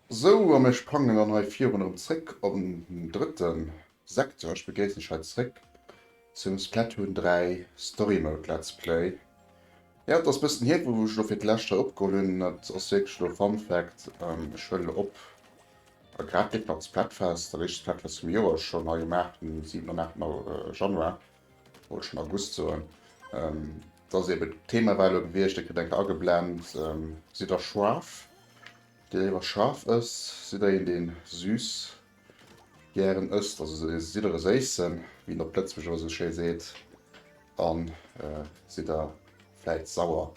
Sou, a mir sprangen dann hei virun erëm zréck op den drëtten Sekzer, ech begréissen dech hei zréck zum Splatoon 3 Story Mode Let's Play. Jo, et ass bëssen hier wou ech elo fir d'lescht hei opgeholl hunn, dat ass wierklech elo Fun Fact, ech huelen elo op a grad leeft nach d'Splatfest, dat éischt Splatfest vum Joer schonn hei um 8, um 7 an 8 Januar, wollt schonn August soen, et ass eben d'Thema war elo gewiescht, dir kritt eng Kéier ageblennt, sidd der Schwaarf, deen léiwer scharf ësst, sidd der een deen süß gären ësst, also se si der e séissen, wéi een op Lëtzebuerg ëmmer esou schéi seet, a si der vläit sauer.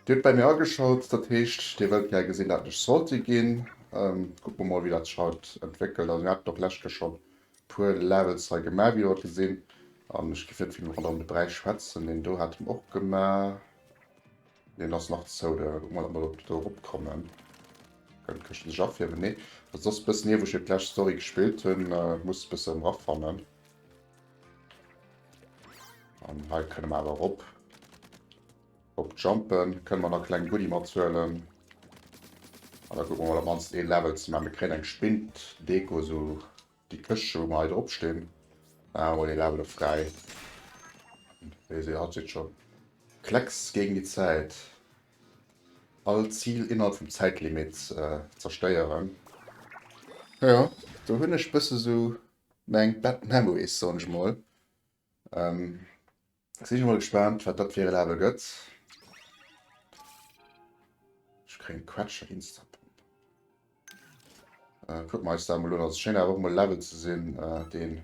Dir hutt bäi mir ageschalt, dat heescht, Dir wëllt gär gesinn, dat lech Salty ginn. Kucke mer mol, wéi dat sech haut entwéckelt. Also mir haten och lescht Kéier schonn e puer Levels hei gemaach, wéi Der et gesinn, an ech géif net vill méi ronderëm de Bräich schwätzen, deen do hat en och gemaach. Deen ass nach zou, da kucke mer, datt mer do eropkommen. Kënnt, kënnt sech afiermen? Nee. Also dat ass bëssen hier, wou ech jo d'lescht Story gespillt hunn. Muss e bëssen erafannen. An hei kënne mer awer erop. Erop jumpen. Kënne mer nach e kleng Goodie mathuelen. An da kucke mer mol, op d'mannst ee Level ze maachen. Mir kréien eng Spinndeko, esou Déi Këscht wou mer hei drop stinn. Maache mer dee Level op fräi. Wéi se haut seet schonn. Klecks géint déi Zäit. All Zil innerhalb vum Zäitlimit zerstéieren. Jo, do hunn ech bësse sou meng bad memories soen ech mol. Et sinn ech mol gespaant wat dat fir e Level gëtt. Ech kréien e Quetscher Insta Pump. Äh, kucken mer eis dat mol un. Also schéngt awer och mol e Level ze sinn deen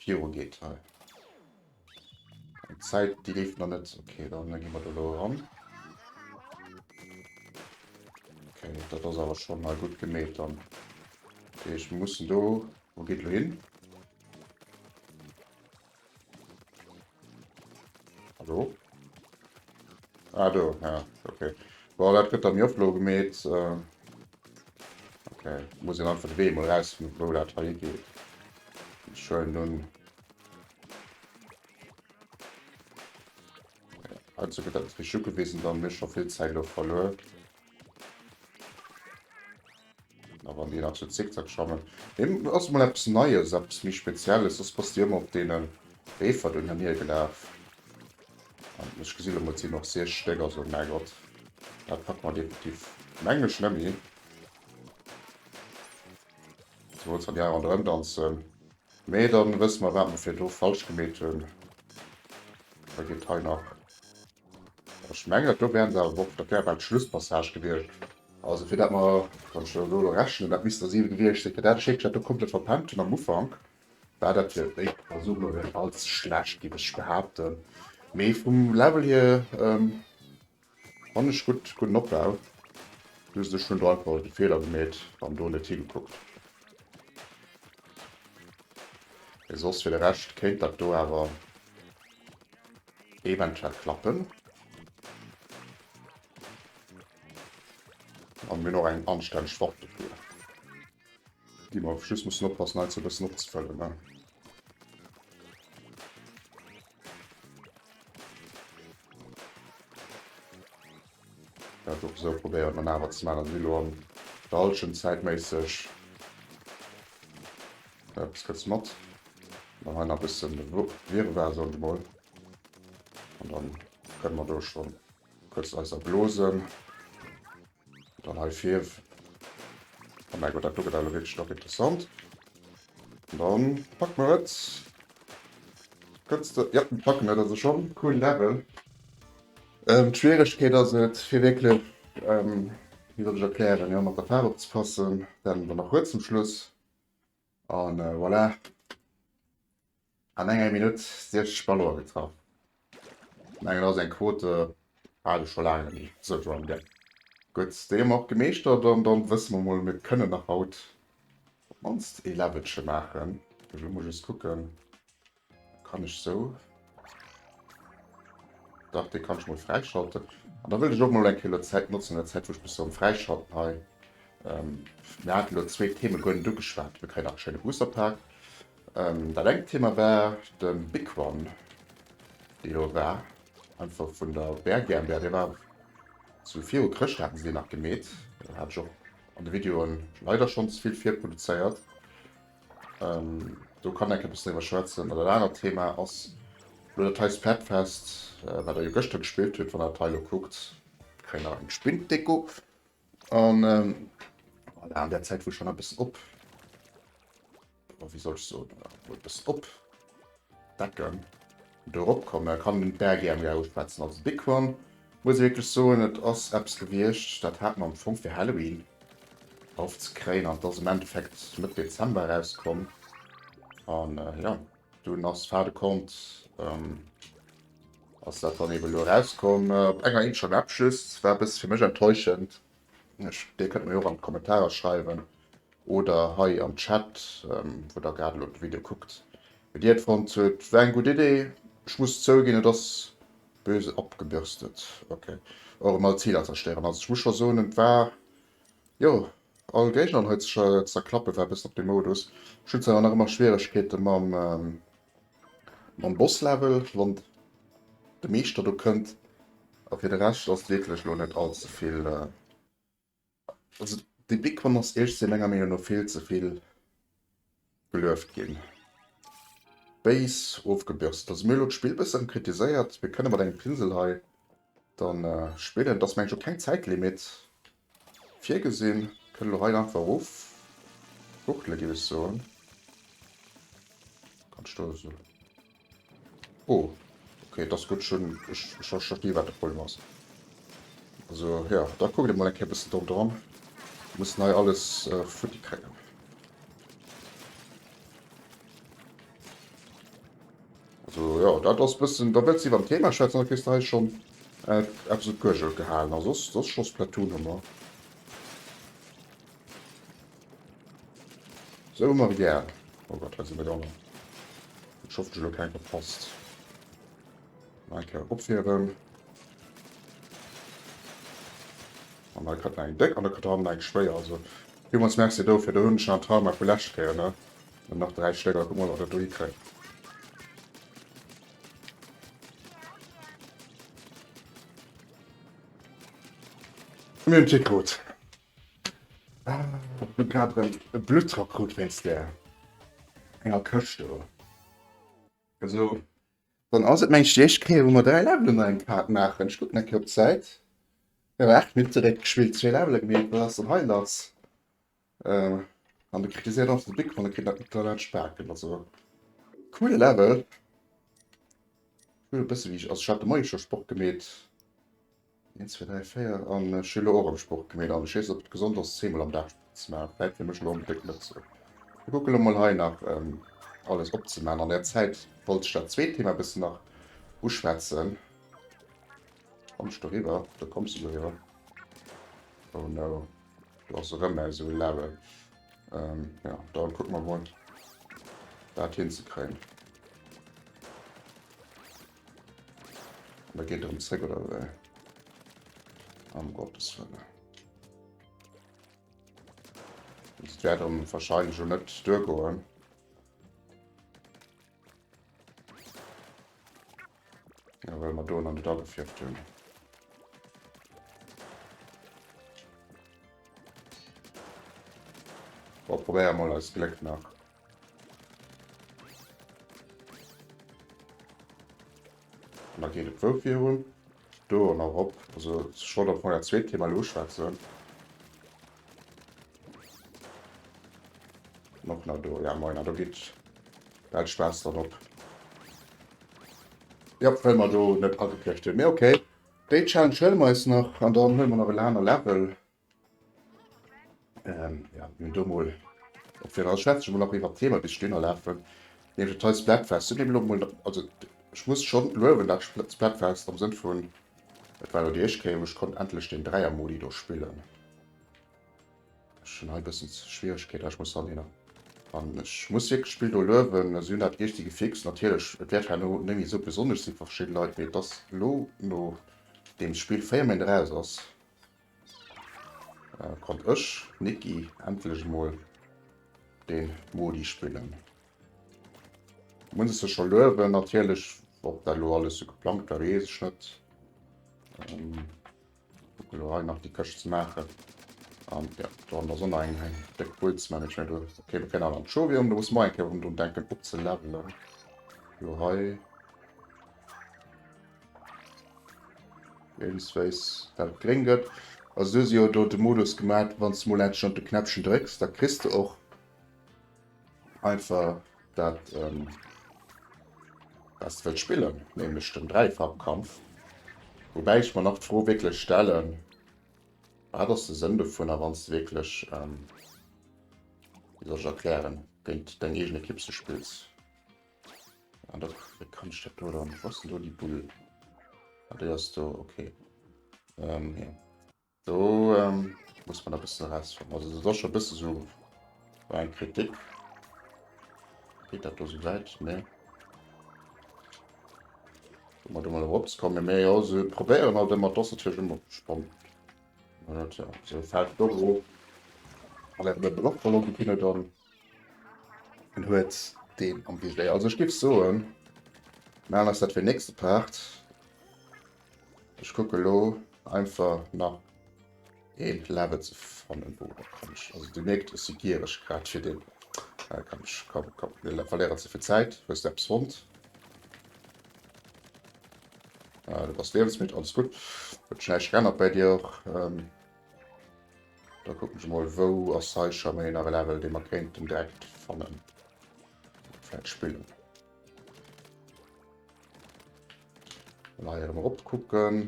viru geet hei. D'Zäit déi leeft nach net. Ok dann gi mer do elo eran. Ok dat ass awer schonn hei gutt gemeet dann. Ech mussen do, wou geet elo hin? Hallo? Ah, do, ja, okay. Boah, dat gëtt der mir oplo gemet. Äh, okay, muss en einfach de Wee mal raus, wo dat hei geet. Schön nun. Also gëtt dat Trichu gewesen, dann mech schon vill Zeit lo verluer. A wann deen nach sou zickzack schrammen. Mee ass mol eppes Neies, eppes méi Spezielles. Soss bass de ëmmer op deene Reefer do hir gelaf. An ech gesi lo mol, et sinn och siech Stéck. Also Mergott, dat packe mer definitiv, mengen ech, net méi. Ze wouls, wann déi aner erëm danzen. Mee da wësse mer, wat mer virdu falsch gemeet hunn. Da geet hei nach Ech mengen, do wären se awer och, dat wär bal d'Schlusspassage gewiescht. Also fir dat mer, wann ech elo elo rechnen, dat misst der 7 gewiescht sinn, fir dat Schéppchen, dat do komplett verpennt hunn am Ufank, war dat fir déi Persoun elo net all ze schlecht, géif ech behaapten. Mee vum Level hier fannen ech gutt, gudden Opbau. Just ech hunn do einfach de Feeler gemeet an do net higekuckt. Mee soss fir de Rescht kéint dat do awer. Eventuell klappen. An mir noch eng anstänneg Waffe dofir. Déi mer just mussen oppassen hei ze bëssen opzefëllen ne. Dat och esou probéiert mer nawer ze man an si lo an der halschent Zäit méisseg eppes gëtts mat mer hei na bëssen Wirrwar soen se mol an dann kënne mer do schonn kuerz eis erblosen dann hei fief a mäi Gott dat do gëtt elo wierklech dach interessant an dann packe mer et kënns de jo mer packen et also schonn cool Level. D'Schwieregkeet ass et fir wierklech, wéi soll ech erklären, jo mat der Faarf opzepassen, dann der nach huet zum Schluss an voilà an enger Minutt 60 Ballonen getraff. Ech mengen dat ass eng Quote hat ech scho laang ni, sou John Depp. Gutt, déi hu mer och gemeeschtert an dann wësse mer mol, mir kënnen nach haut op d'mannst ee Levelche maachen. Elo muss ech just kucken, Kann ech sou? Dach, dee kann ech mol fräischalten. An da wëll ech och mol eng Kéier lo d'Zäit notzen, an der Zäit wou ech mech sou am Fräischalten hei, ähm, mir haten elo zwee Theme goen net ugeschwat, mir kréien nach e schéine Booster-Pack. Ähm, dat engt Thema war de Big One, dee do war, einfach vun der Bär GmbH, dee war zu viru Chrëscht haten se deen nach gemeet, hat ech och an de Videoen leider schonns vill virproduzéiert. Do kann enke bëssen driwwer schwätzen. An dat anert Thema ass elo dat heist Fabfest, wat Der jo gëschter gespillt hutt, wann Der dat hei elo kuckt. Kréien nach eng Spinddeko. An voilà, an där Zäit, wou ech dann e bëssen op, wéi soll ech soen, wou e bëssen op. Becken do rop kommen kann den Bergi am Garu schwätzen. Also big one muss wierklech soen et ass eppes gewiecht dat hat mer am Fong fir Halloween erhoff ze kréien an et ass am Endeffekt Mëtt Dezember eraus komm an jo dunn ass fin de compte ass dat dann eben elo eraus komm. Op enger Inch am App just war e bësse fir mech enttäuschend Dir kënnt mer jo och an d'Kommentarer schreiwen oder hei am Chat, wou der grad elo de Video kuckt, wéi dir et fonnt hutt. War eng gutt Idee. Ech muss zouginn, et ass böse abgebürstet. Ok, och emol Ziler zerstéieren. Also ech muss scho soen, et war jo all Géigner hei ze zerklappen, war e bëssen op dem Modus. Ech hunn zwar nach ëmmer Schwieregkeete mam. Mam Boss Level, wann de Meeschter do kënnt. A fir de Rescht ass wierklech elo net all ze vill, also déi Big One ass iech menger Meenung no vill ze vill gelueft ginn. Base ofgebürst, also mir hu elo d'Spill bëssen kritiséiert, mir kënne mat engem Pinsel hei dann spillen, et ass mengen ech och keng Zäitlimit, Virgesinn. Kënne lo hei einfach erof fuchtele géif ech soen. Kann ech do esou. Oh okay, et ass gutt ech hunn, ech ech ech versti wat de Problem ass. Also ja, da kuckt emol eng Kéier e bëssen drop dran. Mir mussen hei alles futti kréien. Also jo, dat ass e bëssen, da wëlls iwwer den Thema schwätzen, da kriss de hei schonn. Eppes op d'Guergel gehalen a soss scho Splatoon-Hummer. Sou hu mer et gär. Oh Gott, hei sinn der gangen. Ech hoffen, ech hu lo keng verpasst. Nach eng Kéier opfieren. An hei kritt en eng déck an da kritt hannen eng schwéier. Also villmools Merci dofir. Do hunn ech nach en Trauma vu lescht Kéier, ne? Nach dräi Stécker. Kucke mer, ob mer dat do hikréien. Mir hunn d'Jee krut. Ech hunn grad erëm e Bluttdrock krut wéinst där enger Këscht do. Esou, dann ass et meng Stiechkéier, wou mer dräi Levelen an engem Part maachen. Ech kucken eng Kéier op d'Zäit. Mir hu aacht Minutte réckgespillt, zwee Levele gemeet. Wat ass dann hei lass? An de kritiséiert einfach de Big One, kritt dat net dat Spaken. Also coole Level. Cool bësse wéi ass hat de Moie scho Sport gemeet. 1 2 3 4 an Schüler och am Sport gemeet an Schees op gesond ass zeemol am Dag ze ma wäit fir mech lo am Déck net ze. Ech kucke lo mol hei nach ähm, alles opzeman. An der Zäit wollt ech dat zweet Thema bëssen nach uschwätzen. Kommst du riwwer? Du kommst du riwwer? Oh no. Do ass erëm mäi esou e Level. Ähm, ja, dann kucke mer mol, dat hinzekréien. Da geet erëm zréck, oder wéi? Am Gottes Wëlle. Dat wäert erëm wahrscheinlech jo net duergoen. Ja, well mer do an net agefierft hunn. Boah, probéier mal als Gléck nach. Da geht et wou virun. do an erop. Also schon op meiner zweet Thema lo schwätzen. Noch na do ja meiner do git dat Spaß dann op. Ja well man do net agekriegt hun. Mé okay. Déi Challenge huele mer eis nach an dann huele mer nach e laner Level. Ähm, ja, mir do mol op fir als Schwätze mol nach iwwer Thema bis Steener lafen. Nee, de Teils Blackfest sind dem Lomo, also ich muss schon löwen dat Blackfest am Sinn vun Et war die Echke und ich konnte endlich den Dreier Modi do spillen. Schon ein bisschen Schwierigkeit, ich muss dann an ich muss wirklich Spiel do löwen, also hun dat Echtige fix natürlich, et wird herno nemmi so besonnesch si verschieden Leit, mee et ass lo no dem Spiel 4 Méint eraus ass. Äh, konnt ech, Niki, endlech mol den Modi spillen. Muss es schon löwen, natürlich, ob da lo alles so geplant war, wees ich net. Ähm, gucken lo nach die Köche zu machen. Um, ja, da haben wir so ein Deck Puls Management. Okay, wir können an Show um, da muss man eigentlich um drum denken, ob zu leveln. Jo, hi. Irgendsweis dat et gréng gëtt. Also du si jo do de Modus gemat, wann du mol endlech op de Knäppchen drécks, da kriss du och einfach dat ähm, was du wëlls spillen, nämlech den Dräifarbkampf. Wobäi ech mer nach d'Fro wierklech stellen, wat ass de Sënn dovunner, wann du wierklech ähm, wéi soll ech erklären, géint deng eegen Ekipp ze spills. Ah, da kann ich das oder nicht. Was denn die Bull? Ah, der ist da, okay. Ähm, ja. So, ähm, muss man ein bisschen Rest haben. Also, das ist schon ein bisschen so eine Kritik. Geht das da so weit? Ne. Mal da mal Rops kommen mehr, ja, so probieren halt immer das natürlich immer spannend. Und ja, so fällt doch so. Aber der Block verloren, die Kinder dann. En huet deen am Visier. Also ich gebe soen, machen ass dat fir nächste Part. Ich gucke lo einfach nach een Level ze fannen wo kann ich. Also du merkt es gier ich grad fir den äh, kann ich komm, komm, mir verlieren zu viel Zeit, wo ist der Psond? Äh, du bist lebensmüd, alles gut. Wird schnell gerennert bei dir auch. Ähm, Da kucken ech mol wou ass hei scho méi nach e Level dee mer kéinten direkt fannen vläit spillen. An hei erëm erop kucken.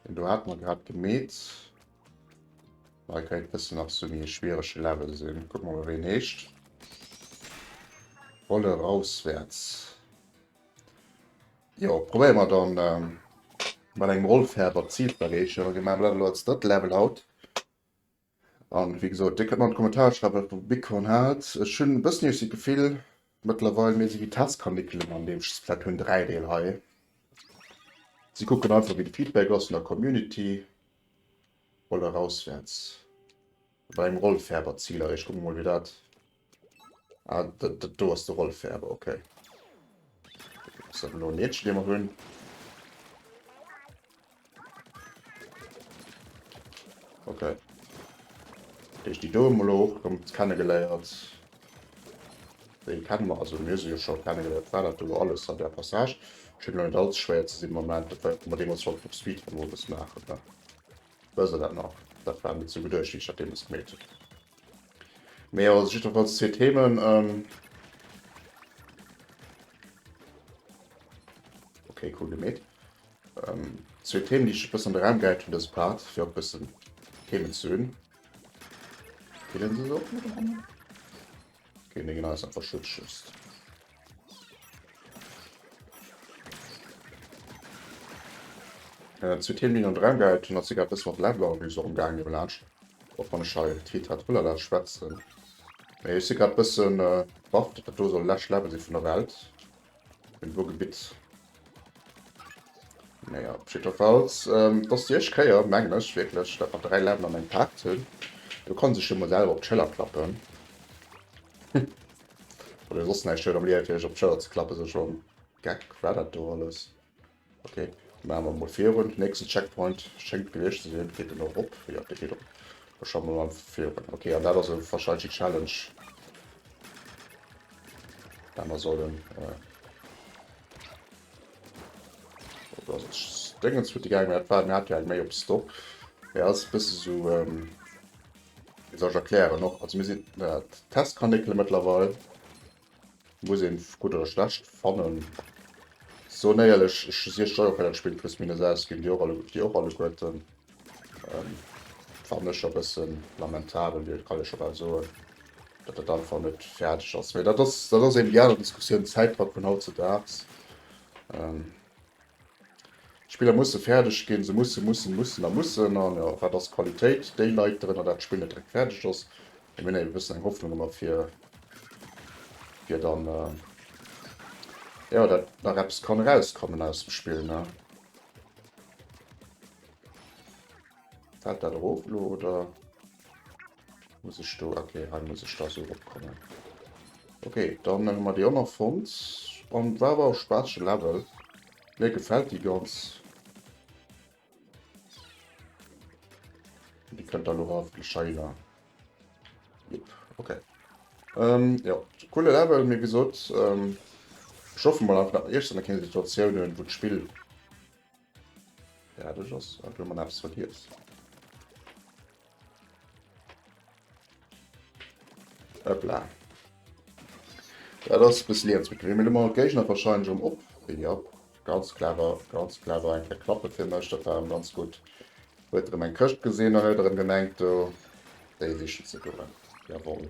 Den do hat mer grad gemeet. Hei kéint bëssen nach sou méi e schwierege Level sinn. Kucke mer mol wéi en heescht. Rolle rauswärts. Jo, probéiere mer dann mat engem Rollfädel dat Zil ze erreechen. Mir maachen dat elo als drëtte Level haut. An wéi gesot, Dir kënnt mer an d'Kommentare schreiwen, wat Der vu Bighorn haalt. Ech hunn e bëssen iech si d'Gefill mëttlerweil, mir si wéi Testkanickeln an deem Splatoon 3 Deel hei. Si kucken einfach, wéi de Feedback ass vun der Community. Rolle erauswäerts mat engem Rollfädel dat Zil erreechen. Kucke mer mol, wéi dat Ah, dat do ass de Rolf Ferber, ok. Ass dat elo e Meedchen, dee mer do hunn? Ok. Dat heescht, déi do hu mer elo och erëm kennegeléiert. Déi kenne mer, also mir hu se jo scho kennegeléiert. War dat do elo alles an där Passage? Schéngt elo net allze schwéier ze sinn am Moment. Dat war jo, wou mer deemools wollten op Speedrun emol e bësse maachen, ne? Wësse dat nach? Dat war mir ze geduerchtig, dat deemools gemeet hunn. Mee jo, jiddwerfalls zwee Themen. Ähm okay, cool gemeet. Ähm, zwee Themen, déi ech bëssen an de Raum gehäit hunn, dës Part, fir och bëssen Themen ze hunn. Killen se se och? Gegen den Gneis einfach Schutz schützt. Äh, zu Themen an dran geheit hun, hat se grad bis mat Level an so umgang gelatscht. Och wann ich hei Tiet hat Ulala schwätzen. Ech si grad bëssen äh, baff, datt dat do soll läscht Level si vun der Welt. Im Ruhrgebiet. Naja, op jiddwerfalls, ähm, dass déi éischt Kéier, mengen ech wierklech, dat mer dräi Läden an engem Park hunn. Do kann sech jo mol selwer op d'Schëller klappen. Oder soss näischt huet am Liewe fir sech op d'Schëller ze klappen, sou schonn. Geck, war dat do alles? Ok, maache mer mol virun. Nächsten Checkpoint schéngt gewiescht ze sinn. Geet en och op? Jo, dee geet op. Da schaffen mer mol virun. Ok, an dat ass e wahrscheinlechen Challenge, dat mer sollen. Äh. Dingens fut gegangen hat war hat eng méi op Stop ja, ass bësse so ähm, sech erklären och also mir sinn Testkanéckelmëttlerweil. Muss een gutt oder schlecht fannen. So néierlech ech si steuer bei dat Spill plus minus aus ginn Dir och alle Dir och alle Guerten. Ähm, fannen ech a bëssen lamentabel Dir kann ech scho bal soen dat dat einfach net fäerdeg ass. Mee dat ass dat ass eben déi aner Diskussioun Zäitdrock vun hautzedags. Ähm, D'Spiller musse fäerdeg ginn, se mussen, mussen, mussen a mussen. A jo, wat ass Qualitéit? Déi leit drënner, datt d'Spill net direkt fäerdeg ass. Mee mir hunn eben e bëssen eng Hoffnung ëmmer, fir fir dann, jo, datt nach eppes kann erauskommen aus dem Spill, ne? Fält dat erof elo, oder? Muss ech do okay, hei muss ech da so opkommen. Okay, dann hun mer déi och nach fonnt. An war awer e spaatege Level. Mir gefällt déi ganz. Déi kënnt da lo haeftlech hei la. Jep, okay. Ähm, ja, coole Level, mir gesot, ähm, ech hoffe mol einfach nach éischter nach keng Situatiounen, wou d'Spill Ja, das ist ein Blumen aufs Vergiss. Hoppla. Ja, das ist ein bisschen zu kriegen. Wir mal Gegner wahrscheinlich um Op. Ja, ganz clever, ganz clever. Ein kleiner Klappe für mich, das war ganz gut. Wird er mein Köst gesehen, dann hat er gemerkt, da, der ist schon zu tun. Jawohl.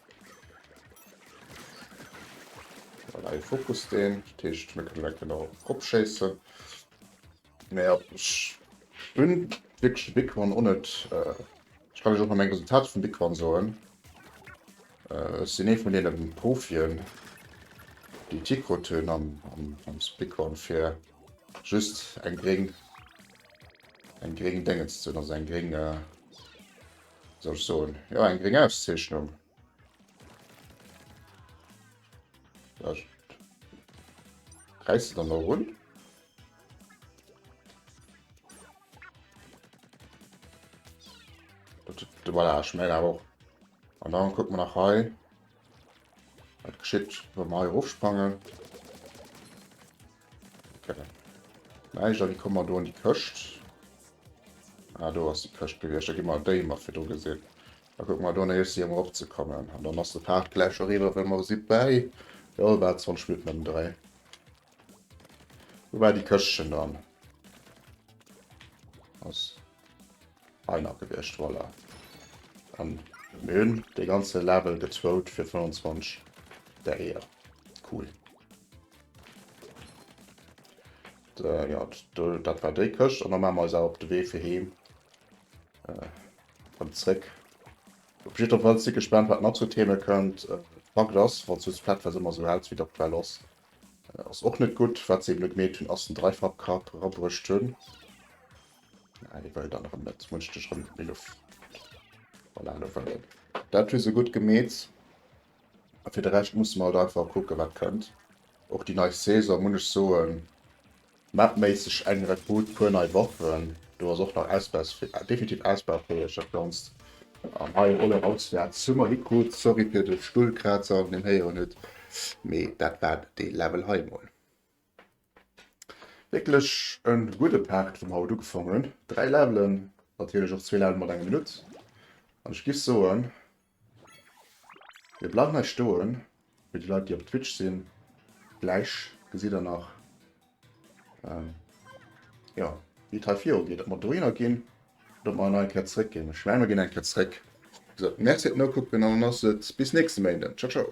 Voilà, hie fokust deen. Dat heescht, mir kënnen direkt erop schéissen. Mä jo, ech hunn wierklech de Big One och net. Ech kann iech och nach meng Resultater vum Big One soen. Ech sinn ee vun deene Profien, déi Tick krut hunn am Big One, fir just eng gréng, eng gréng Déngens ze hunn, also eng gréng. soll ech soen, jo eng gréng Auszeechnung. Räiss se dann no run. Voilà, ich meine auch. Und dann gucken wir nach hei. Dat geschitt wann mer hei erofsprangen. Okay. Näischt, a wie kommen mer do an déi Këscht? Ah, do ass déi Këscht gewiescht, da gi mer déi mat fir do gesinn. Da kucke mer do an Héicht si ëm erop ze kommen. An dann ass de Pfad gläich eriwwer, well mer si bäi jo bal 20 Minutten ëm dräi. Wou war déi Këschtchen dann? Ass Einer gewiescht voilà an mir hunn de ganze Level gezwougt fir 25 Däier cool. Ja dat war déi Këscht an da maache mer eis awer op de Wee fir heem an zréck. Op jiddwer Fall si gespaant wat nach sou Theme kënnt. Fakt ass wann s du d'Platfest ëmmer sou hels wéi datt well ass ass och net gutt. Wat se eben net gemeet hunn ass den Dreifachkapp rabruecht hunn. Na, dee wëll dann erëm net. Munch dech erëm méi Luft. Voilà, elo wëll en. Dat hu se gutt gemeet. A fir de Rescht musse mer halt einfach kucken, wat kënnt. Och déi nei Saison, muss ech soen, mapméisseg eng Rekrut, puer nei Waffen. Do ass och nach ausbaus, definitiv ausbaufäeg, dat Ganzt. An hei en Oleg auswäerts hu mer hikrut. Sorry fir de Stullkrazer, deen een héieren huet, mee dat war dee Level hei emol. Wierklech en gudde Part vum haut ugefangen hunn. 3 Levelen, natierlech och zwee Level mat enger Minutt. An ech giff soen, mir bleiwen hei stoen, fir déi Leit déi op Twitch sinn, gläich gesitt der nach ähm jo wéi et hei viru geet, ob mer dohinner ginn oder ob mer nach eng Kéier zréck ginn. Ech mengen mer ginn eng Kéier zréck. Wéi gesot, Merci fir d'Nokucken an dann ass et bis nächste Méinden. Ciao ciao.